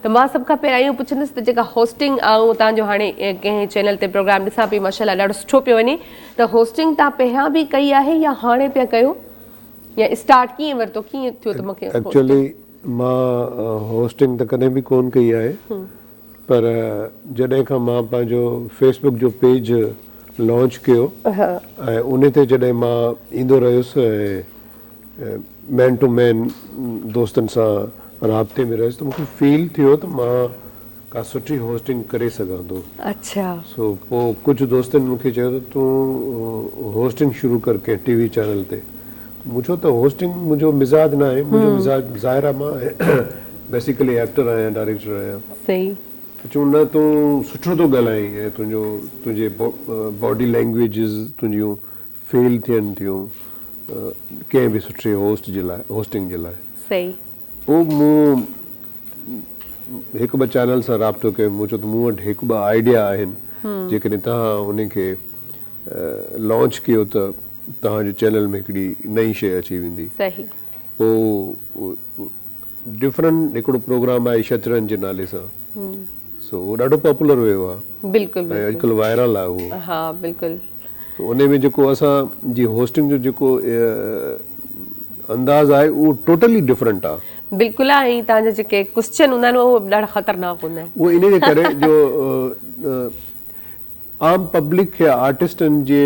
ته مان سڀ کان پهريان اهو پڇندس ته جيڪا هوسٽنگ آئون اتان جو هاڻي ڪنهن چينل تي پروگرام ڏسان پئي ماشاء الله ڏاڍو سٺو پيو وڃي ته هوسٽنگ تان پهريان به ڪئي آهي يا هاڻي پيا ڪيو يا اسٽارٽ ڪيئن ورتو ڪيئن ٿيو ته مونکي ايڪچولي مان هوسٽنگ ته ڪڏهن به ڪون ڪئي آهي پر جڏهن کان مان پنهنجو فيس بڪ جو پيج لانچ ڪيو ۽ ان تي جڏهن مان ايندو رهيس ۽ مين ٽو مين دوستن سان رابطي ۾ رهيس ته مون کي فيل ٿيو ته مان ڪا سٺي هوسٽنگ ڪري سگهان ٿو سو پوء ڪجهه دوستن مون کي چيو ته تون هوسٽنگ شروع ڪر ڪنهن ٽي وي چينل تي مون چيو ته هوسٽنگ منهنجو مزاج نه آهي منهنجو مزاج ظاهر آهي مان بيسيڪلي ايڪٽر آهيان ڊائريڪٽر آهيان ته چون نه تون سٺو ٿو ڳالهائين ۽ تنهنجو تنهنجي باڊي لينگويجز تنهنجيون فيل ٿين ٿيون ڪنهن به سٺي هوسٽ جي لاء هوسٽنگ جي لاء صحيح پوء مون هڪ ٻه چينل سان رابطو ڪيو مون چيو ته مون وٽ هڪ ٻه آئيڊيا آهن جيڪڏهن توهان انهن کي لانچ ڪيو ته توهان جي چينل ۾ هڪڙي نئين شيء اچي ويندي صحيح پوء ڊفرنٽ هڪڙو پروگرام آهي شطرنج جي نالي سان سو اهو ڏاڍو پاپولر ويو آهي بلڪل ۽ اڄڪلهه وائرل آهي اهو ها بلڪل سو انهي ۾ جيڪو اسان جي هوسٽنگ جو جيڪو انداز آهي اهو ٽوٽلي ڊفرنٽ آهي بلڪل آهي ۽ تهان جا جيڪي ڪوسچن هوندا آهن اهي ڏاڍا خطرناڪ هوندا آهن اهو انهي جي ڪري جو عام پبلڪ کي آرٽسٽن جي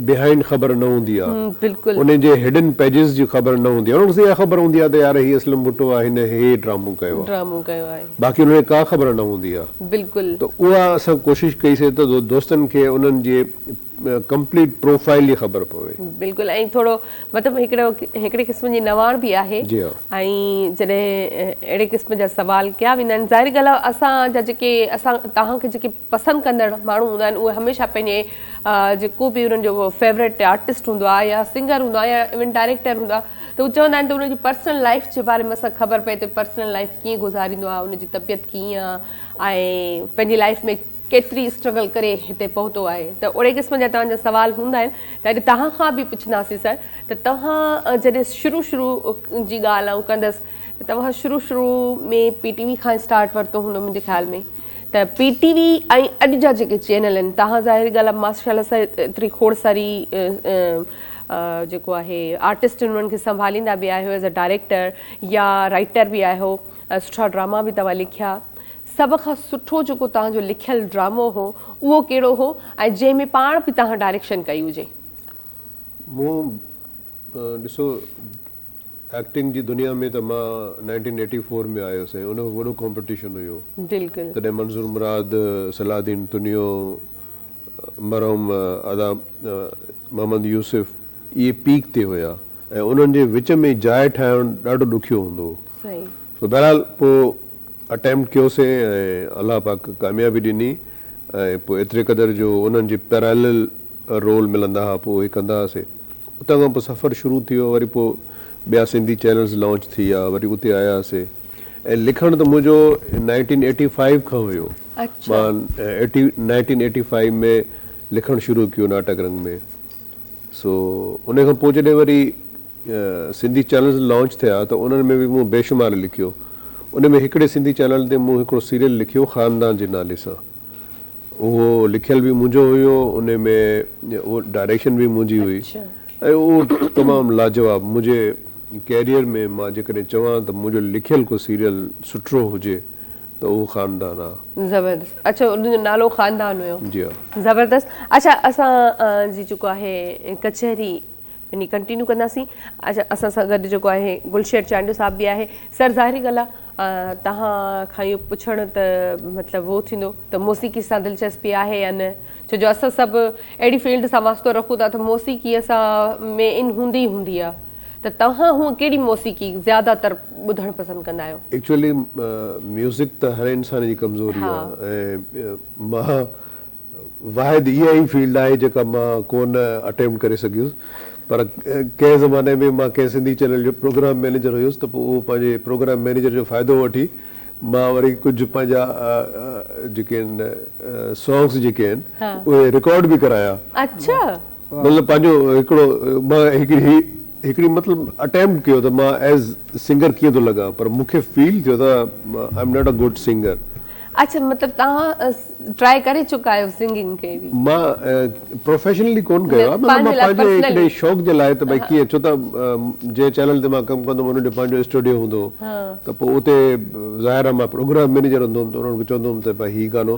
بهائنڊ خبر نه هوندي آ انهن جي هڊن پيجز جي خبر نه هوندي آ انهن کي بس اها خبر هوندي آ ته يار هي اسلم ڀٽو آ هن هي ڊرامو ڪيو آ باقي انهن کي ڪا خبر نه هوندي آ ته اها اسان ڪوشش ڪئي سي ته دوستن کي انهن جي ڪمپليٽ پروفائل جي خبر پوي. بلڪل ۽ ٿورو مطلب هڪڙي قسم جي نواڻ به آهي ۽ جڏهن اهڙي قسم جا سوال ڪيا ويندا آهن ظاهري ڳالهه آ اسان جا جيڪي اسان توهان کي جيڪي پسند ڪندڙ ماڻهو هوندا آهن اهي هميشه پنهنجي جيڪو به انهن جو فيورٽ آرٽسٽ هوندو آهي يا سنگر هوندو آهي يا ايون ڊائريڪٽر هوندو آهي ته هو چوندا آهن ته ان جي پرسنل لائيف جي باري ۾ اسان خبر پئي ته پرسنل لائيف ڪيئن گذاريندو آهي ان جي طبيعت ڪيئن آهي ۽ پنهنجي لائيف ۾ ڪيتري اسٽرگل ڪري هتي پهتو آهي ته اهڙي قسم جا توهان جا سوال هوندا آهن ته اڄ توهان کان به پڇنداسين سر ته توهان جڏهن شروع شروع جي ڳالهه آئون ڪندس ته توهان شروع شروع ۾ پي ٽي وي کان اسٽارٽ ورتو هوندو منهنجي خيال ۾ ته پي ٽي وي ۽ اڄ جا جيڪي چينل آهن تهان ظاهري ڳالهه آهي ماشاءالله سان ايتري کوڙ ساري جيڪو آهي آرٽسٽ انهن کي سنڀاليندا به آهيو ايز ا ڊائريڪٽر يا رائيٽر به آهيو سٺا ڊراما به توهان لکيا سڀ کان سٺو جيڪو توهان جو لکيل ڊرامو هو اهو ڪهڙو هو ۽ جنهن ۾ پاڻ به توهان ڊائريڪشن ڪئي هجي؟ مون ڏسو ايڪٽنگ جي دنيا ۾ ته مان نائنٽين ايٽي فور ۾ آيس ۽ ان وقت وڏو ڪامپيٽيشن هيو. بلڪل. تڏهن منظور مراد، صلاح الدين تنيو، مرحوم ادا محمد يوسف اهي پيڪ تي هيا ۽ انهن جي وچ ۾ جاء ٺاهڻ ڏاڍو ڏکيو هوندو هو. صحيح. سو بهرحال پوء اٽيمپٽ ڪيوسين ۽ الله پاڪ ڪاميابي ڏني ۽ پوء ايتري قدر جو انهن جي پيرالل رول ملندا ھئا پوء اھي ڪندا ھئاسي اتان کان پوء سفر شروع ٿي ويو وري پوء ٻيا سنڌي چينلز لانچ ٿي ويا وري اتي آياسي ۽ لکڻ ته منھنجو نائنٽين ايٽي فائيو کان ھيو اڇا. مان ايٽي نائنٽين ايٽي فائيو ۾ لکڻ شروع ڪيو ناٽڪ رنگ ۾ سو انھي کان پوء جڏھن وري سنڌي چينلز لانچ ٿيا ته انھن ۾ به مون بيشمار لکيو انھي ۾ ھڪڙي سنڌي چينل تي مون ھڪڙو سيريل لکيو خاندان جي نالي سان اهو لکيل به منهنجو هيو ان ۾ اهو ڊائريڪشن به منهنجي هئي ۽ اهو تمام لاجواب منهنجي ڪيريئر ۾ مان جيڪڏهن چوان ته منهنجو لکيل ڪو سيريل سٺڙو هجي ته اهو خاندان آ. زبردست اچو ان جو نالو خاندان هيو. جي ها. زبردست اچا اسان جي جيڪو آهي ڪچهري يعني ڪنٽينيو ڪنداسين اچا اسان سان گڏ جيڪو آهي گلشير چانڊيو صاحب به آهي سر ظاهري ڳالهه آهي توهان کان اهو پڇڻ ته مطلب اهو ٿيندو ته موسيقي سان دلچسپي آهي يا نه ڇو جو اسان سڀ اهڙي فيلڊ سان واسطو رکون ٿا ته موسيقي اسان ۾ ان هوندي ئي هوندي آهي ته توهان هونء ڪهڙي موسيقي زياده تر ٻڌڻ پسند ڪندا آهيو. ايڪچوئلي ميوزڪ ته هر انسان جي ڪمزوري آهي ۽ مان واحد اها ئي فيلڊ آهي جيڪا مان ڪو نه اٽيمپٽ ڪري سگهيس پر ڪنهن زماني ۾ مان ڪنهن سنڌي چينل جو پروگرام مئنيجر هيس ته پوء اهو پنهنجي پروگرام مئنيجر جو فائدو وٺي مان وري ڪجهه پنهنجا جيڪي آهن سانگس جيڪي آهن اهي رڪارڊ به ڪرايا. اڇا. مطلب پنهنجو هڪڙو مان هڪڙي هڪڙي مطلب اٽيمپٽ ڪيو ته مان ايز سنگر ڪيئن ٿو لڳان پر مون کي فيل ٿيو ته I am not a good singer. اڇا مطلب توهان ٽرائي ڪري چڪا آهيو سنگنگ کي به. مان پروفيشنلي ڪون ڪيو آهي مطلب مان پنهنجي هڪڙي شوق جي لاء ته ڀاء ڪيئن ڇو ته جنهن چينل تي مان ڪم ڪندو هوم ان جو پنهنجو اسٽوڊيو هوندو هو ته پوء اتي ظاهر آهي مان پروگرام مينيجر هوندو هوم ته انهن کي چوندو هوم ته ڀاء هي گانو